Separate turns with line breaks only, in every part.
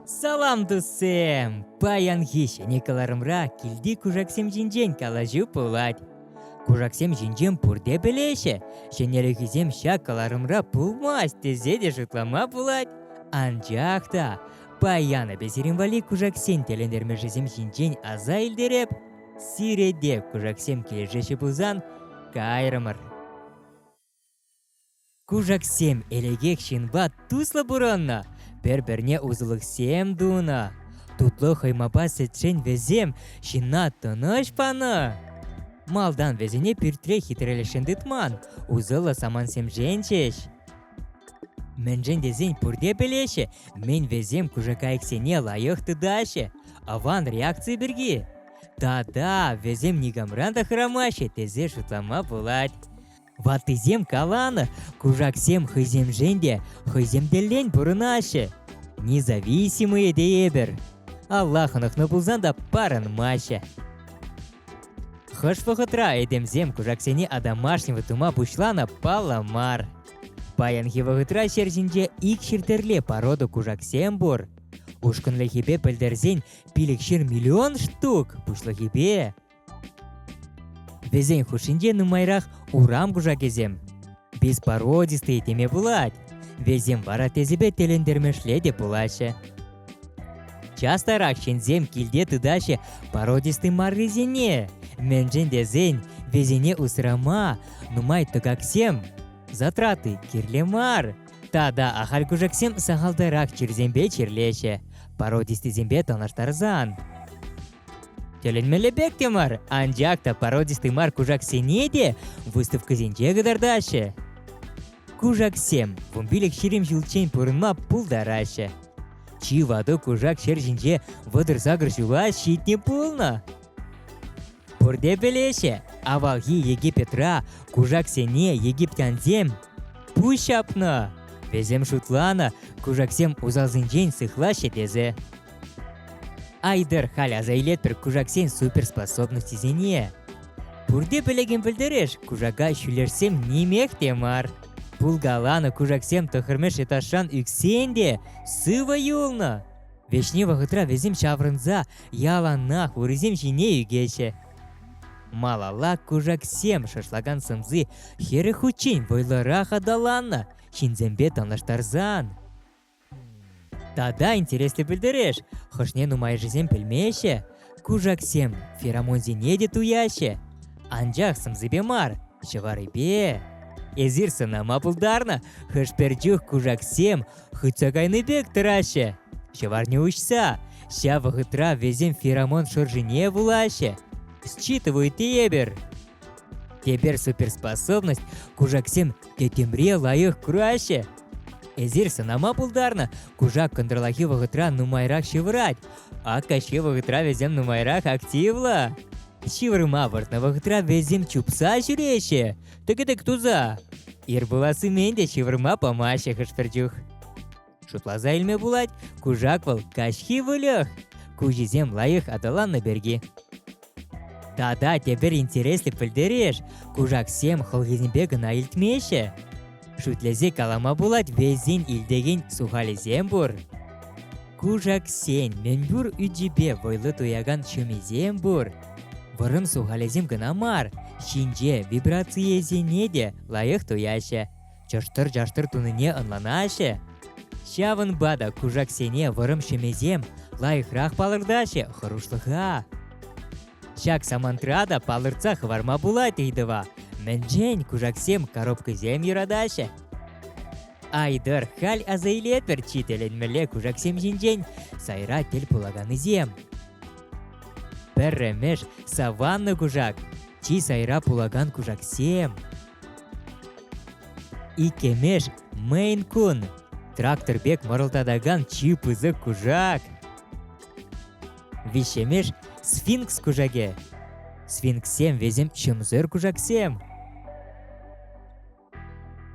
Салам, туссем! Паянхи ҫӗнӗ кӑларӑмра килти кушаксем ҫинчен калаҫу пулать. Кушаксем ҫинчен пурте пӗлеҫҫӗ, ҫӗнӗлӗхӗсем ҫак кӑларӑмра пулмасть тесе те шутлама пулать. Анчах та паян эпӗ сирӗн валли кушаксен тӗлӗнтермӗшӗсем ҫинчен аса илтереп. Сире те кушаксем килӗшеҫҫӗ пулсан, кайрӑмӑр. Кушаксем элекех ҫынпа туслӑ пурӑннӑ, пӗр-пӗрне усӑлӑхсем тунӑ. Тутлӑ хӑймапа сӗтсен вӗсем ҫынна тӑнӑҫ панӑ. Малтан вӗсене пӳртре хитрелӗхшӗн тытман, усӑллӑ самантсемшӗн ҫеҫ. Мӗншӗн тесен пурте пӗлеҫҫӗ, мӗн вӗсем кушакайӑксене лайӑх тытаҫҫӗ, аван реакци пирки. Тата вӗсем никамран та хӑрамаҫҫӗ тесе шутлама пулать. Ваттисем каланӑ, кушаксем хӑйсемшӗн те, хӑйсем тӗллӗн пурӑнаҫҫӗ. Независимые тейӗпӗр. Алла хӑнӑхнӑ пулсан та парӑнмаҫҫӗ. Хӑш вӑхӑтра этемсем кушаксене одомашнего тума пуҫланӑ паллӑ мар. Паянхи вӑхӑтра ҫер ҫинче ик чир порода кушаксем пур. Ушкӑнлӑхӗпе пӗлтерсен пилӗкҫыр миллион штук пуҫлӑхӗпе. Вӗсен хушшинче нумайрах урам кушакӗсем. Беспородистые теме пулать. Весем вара тесепе тӗлӗнтермешле те пулаҫҫӗ. Частарах ҫынсем килте тытаҫҫӗ породистый маррисене. Мӗншӗн тесен вӗсене усрама нумай тӑкаксем затраты кирлӗ мар. Тата ахаль-кушаксем сахалтарах чирсемпе чирлеҫҫӗ, породистисемпе танлаштарсан. Тӗлӗнмелле пек те мар, анчах та породистый мар кушаксене те выставкӑсенче кӑтартаҫҫӗ. Кушаксем вунпилӗк ҫирӗм ҫулччен пурӑнма пултараҫҫӗ. Чи ватӑ кушак ҫӗр ҫинче вӑтӑр-сакӑр ҫула ҫитнӗ пулнӑ. Пурте пӗлеҫҫӗ, авалхи Египетра кушаксене египтянсем пуҫ ҫапнӑ. Вӗсем шутланӑ, кушаксем усалсенчен сыхлаҫҫӗ тесе. Айдер халь аса илетпӗр кушаксен суперспособностьсене. Пурте пӗлекен пӗлтереш, кушака ҫӳлерсем нимех те мар. Пулкаланӑ кушаксем тӑхӑрмеш этажран ӳксен те сывӑ юлнӑ. Вӗҫне вӑхӑтра вӗсем ҫаврӑнса яланах урисем ҫине ӳкеҫҫӗ. Малалла кушаксем шашлакан сӑмси хӗрӗ хутчен вӑйлӑрах аталаннӑ ҫынсемпе танлаштарсан. Тата интереслӗ пӗлтереш, хӑшне нумайӑшӗсем пӗлмеҫҫӗ. Кушаксем феромонсене те туяҫҫӗ. Анчах сӑмсипе мар, ҫӑварипе. Эсир сӑнама пултарнӑ, хӑш-пӗр чух кушаксем хытса кайнӑ пек тӑраҫҫӗ. Ҫӑварне уҫса, ҫав вӑхӑтра вӗсем феромон шӑршине вулаҫҫӗ. Считывают тепӗр. Тепер суперспособность кушаксем тӗтӗмре лайӑх кураҫҫӗ. Эсир сӑнама пултарнӑ, кушак кӑнтӑрлахи вӑхӑтра нумайрах ҫывӑрать. Ак та ҫи вӑхӑтра вӗсем нумайрах активлӑ. Ҫывӑрма выртнӑ вӑхӑтра вӗсем чупса ҫӳреҫҫӗ, тӗкӗтӗк туса. Ир пулассимен те ҫывӑрма памаҫҫӗ хӑш-пӗр чух. Шутласа илме пулать, кушак вӑл каҫхи выльӑх. Куҫӗсем лайӑх аталаннӑ пирки. Тата тепӗр интереслӗ пӗлтереш, кушаксем хӑлхисемпе кӑна илтмеҫҫӗ. Шӳтлесе калама пулать, вӗсен илтекен сухалӗсем пур. Кушаксен мӗнпур ӳчӗпе вӑйлӑ туякан ҫумисем пур. Вӑрӑм сухалӗсем кӑна мар, ҫинҫе вибрацийӗсене те лайӑх туяҫҫӗ. Чӑштӑр-чаштӑр тунине ӑнланаҫҫӗ. Ҫавӑнпа та кушаксене вӑрӑм ҫӗмесем лайӑхрах палӑртаҫҫӗ хӑрушлӑха. Ҫак самантра та палӑртса хӑварма пулать ыйтӑва, мӗншен кушаксем коробкӑсем юратаҫҫӗ? Айтӑр, халь аса илетпӗр чи тӗлӗнмелле кушаксем ҫинчен сайра тӗл пулаканисем. Пӗрремӗш саванна кушак, чи сайра пулакан кушаксем. Иккӗмеш мейн кун трактор пек мӑрӑлтатакан чи пысӑк кушак. Виҫҫемеш сфинкс кушакӗ. Сфинкссем весем ҫӑмсӑр кушаксем.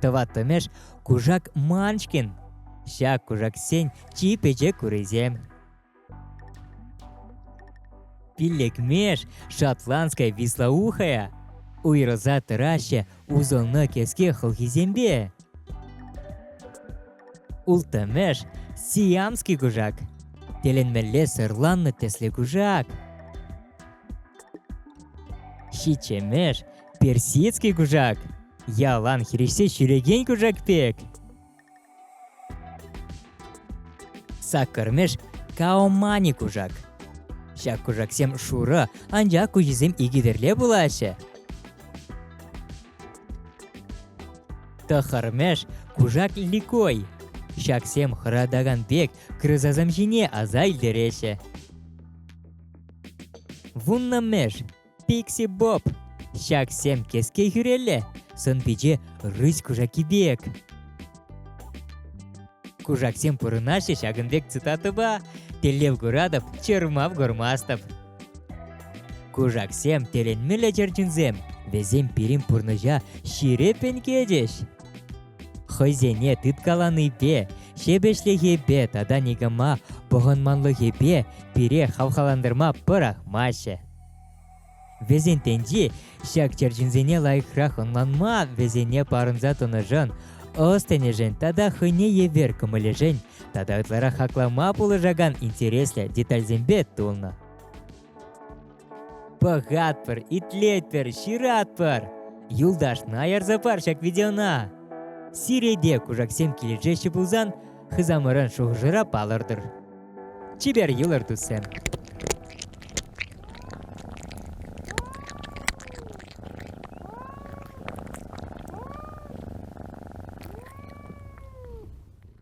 Тӑваттӑмеш кушак манчкин. Ҫак кушаксен чи пӗчӗк урисем. Пиллӗкмеш шотландская вислоухая уйрӑлса тӑраҫҫӗ усӑлнӑ кӗске хӑлхисемпе. Улттӑмӗш сиамский кушак тӗлӗнмелле сӑрланнӑ тӗслӗ кушак. Ҫиччӗмеш персидский кушак ялан хирӗҫсе ҫӳрекен кушак пек. Саккӑрмӗш Каомани кушак. Ҫак кушаксем шурӑ, анчах куҫӗсем икӗтӗрле пулаҫҫӗ. Тӑхӑрмӗш кушак ликой. Ҫаксем хӑратакан пек крысасем ҫине аса илтереҫҫӗ. Вуннӑмӗш Пикси Боб. Ҫаксем кеске хӳрелле, сӑн-пиче рысь кушаки пек. Кушаксем пурӑнаҫҫӗ ҫакӑн пек цитатӑпа «Тӗллев Куратов, чӑрмав Гормастов». Кушаксем тӗлӗнмелле чӗрчунсем, вӗсем пирӗн пурнӑҫа ҫирӗп ӗнкетӗҫ. Хӑйсене тыткаланипе, ҫепӗҫлӗхепе тата никама пӑхӑнманлӑхӗпе пире хавхалантарма пӑрахмаҫҫӗ. Вӗсенчен ҫак черченсене лайӑхрах ӑнланма, вӗсене парӑнса тӑнӑшӑн, ӑс-тӗнӗшӗн тата хӑйне евер кӑмӑлӗшӗн тата ытларах хаклама пулӑшакан интереслӗ детальсемпе тулнӑ. Пӑхатпӑр, итлетпӗр, ҫыратпӑр! Юлташ, найӑрсӑр пар ҫак видеона! Сиреде кушаксем килӗшеҫҫӗ пулсан, Хысамӑрӑн шухӑшӑра палӑртӑр. Чипер юлӑр, туссем!